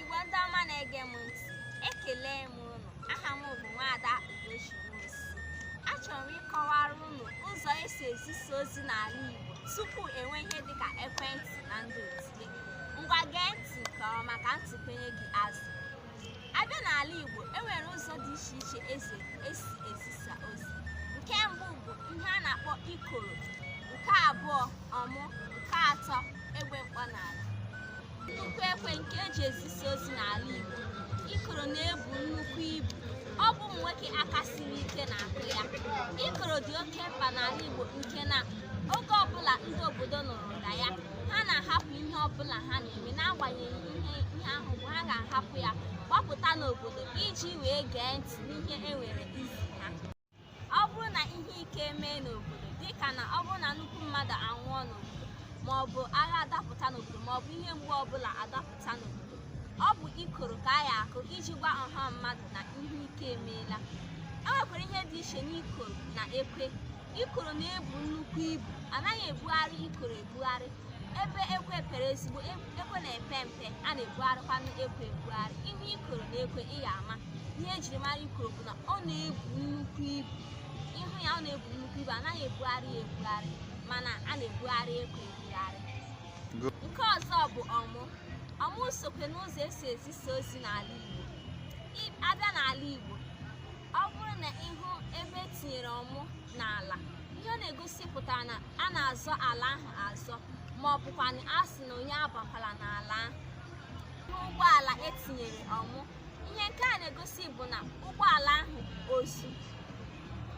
Igbo ndị ọma na-ege m ntị, ekele m unu. Aha m bụ Nwaada Ugochi Nwosu. Achọrọ m ịkọwara unu ụzọ esi ezisa ozi n'ala Igbo tupu enwe ihe dịka ekwentị na ndị otu ya. Ngwa gee ntị nke ọma ka ntị kwenye gị azụ. abịa n'ala Igbo e nwere ụzọ dị iche iche ez- esi ezisa ozi nke mbụ bụ ihe a na-akpọ ikoro nke abụọ ọmụ nke atọ egbe mkpọ n'ala nnukwu ekwe nke eji ezisa ozi n'ala Igbo ikoro na-ebu nnukwu ibu ọ bụ ụmụ nwoke aka siri ike na-akụ ya ikoro dị oke mkpa n'ala Igbo nke na oge ọbụla ndị obodo nụrụ ụda ya ha na-ahapụ ihe ọbụla ha na-eme n'agbanyeghị ihe ahụ bụ ha ga-ahapụ ya gbapụta n'obodo iji wee gee ntị n'ihe e nwere izi ha ọ bụrụ na ihe ike emee n'obodo dịka na ọ bụrụ na nnukwu mmadụ anwụọ n'obodo ma ọ bụ agha adapụta n'obodo ma ọ bụ ihe mgbu ọbụla adapụta n'obodo ọ bụ ikoro ka a ya akụ iji gwa ọha mmadụ na ihe ike emeela e nwekwara ihe dị iche n'ikoro na ekwe ikoro na-ebu nnukwu ibu anaghị ebugharị ikoro ebugharị ebe ekwe pere ezigbo e- ekwe na-epe mpe a na-ebugharịkwanụ ekwe ebugharị ihe ikoro na ekwe ị ya ama ihe ejiri mara ikoro bụ na ọ na-ebu nnukwu ibu ịhụ ya ọ na-ebu nnukwu ibu anaghị ebugharị ya ebugharị mana a na-ebugharị ekwe ebugharị nke ọzọ bụ ọmụ ọmụ sokwe n'ụzọ esi ezisa ozi n'ala Igbo Ị- abịa n'ala Igbo ọ bụrụ na ịhụ ebe etinyere ọmụ n'ala ihe ọ na-egosipụta na a na-azọ ala ahụ azọ ma ọ bụkwanụ a sị na onye abakwala n'ala ahụ n'ụgbọala etinyere ọmụ ihe nke a na-egosi bụ na ụgbọala ahụ ozu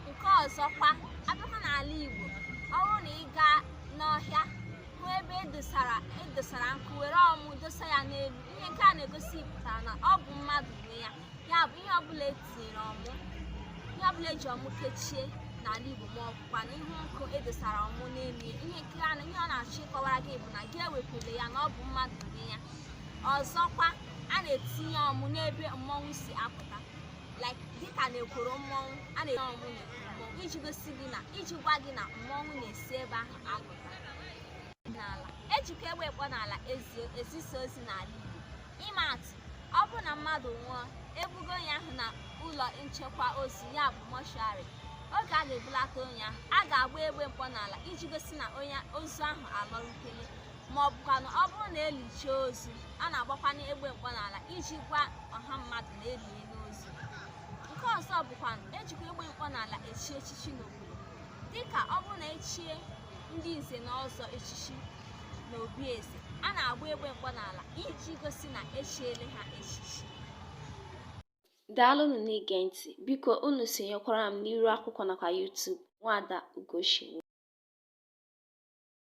nke ọzọkwa abịakwa n'ala Igbo ọ bụrụ na ị gaa n'ọhịa hụ ebe edosara edosara nkụ were ọmụ dosa ya n'elu ihe nke a na-egosipụta na ọ bụ mmadụ nwe ya ya bụ ihe ọbụla etinyere ọmụ ihe ọbụla eji ọmụ kechie n'ala Igbo ma ọbụkwanụ ihe nkụ edosara ọmụ n'elu ya ihe nke a na- ihe ọ na-achọ ịkọwara gị bụ na gị ewepụla ya na ọ bụ mmadụ nwe ya ọzọkwa a na-etinye ọmụ n'ebe mmọnwụ si apụta like dịka na ekwuru mmọnwụ a na-etinye ọmụ na ekwuru mmọnwụ iji gosi gị na iji gwa gị na mmọnwụ na-esi ebe ahụ apụta n'ala ejikwa egbe mkpọ n'ala ezi ezisa ozi n'ala Igbo ịma atụ ọ bụrụ na mmadụ nwụọ ebugo onye ahụ na ụlọ nchekwa ozu ya bụ mọshụarị oge a ga-ebulata onye ahụ a ga-agba egbe mkpọ n'ala iji gosi na onye ozu ahụ alọrutele ma ọ bụkwanụ ọ bụrụ na elichaa ozu a na-agbakwanụ egbe mkpọ n'ala iji gwa ọha mmadụ na eliele ozu nke ọzọ bụkwanụ ejikwa egbe mkpọ n'ala echi echichi n'obodo dịka ọ bụrụ na echie ndị nze na ọzọ echichi na obi eze a na-agba egbe mkpọ n'ala iji gosi na echiele ha echichi daalụ unu na-ege ntị biko unu sonyekwara m n'iru akwụkwọ nakwa YouTube nwada Ugochi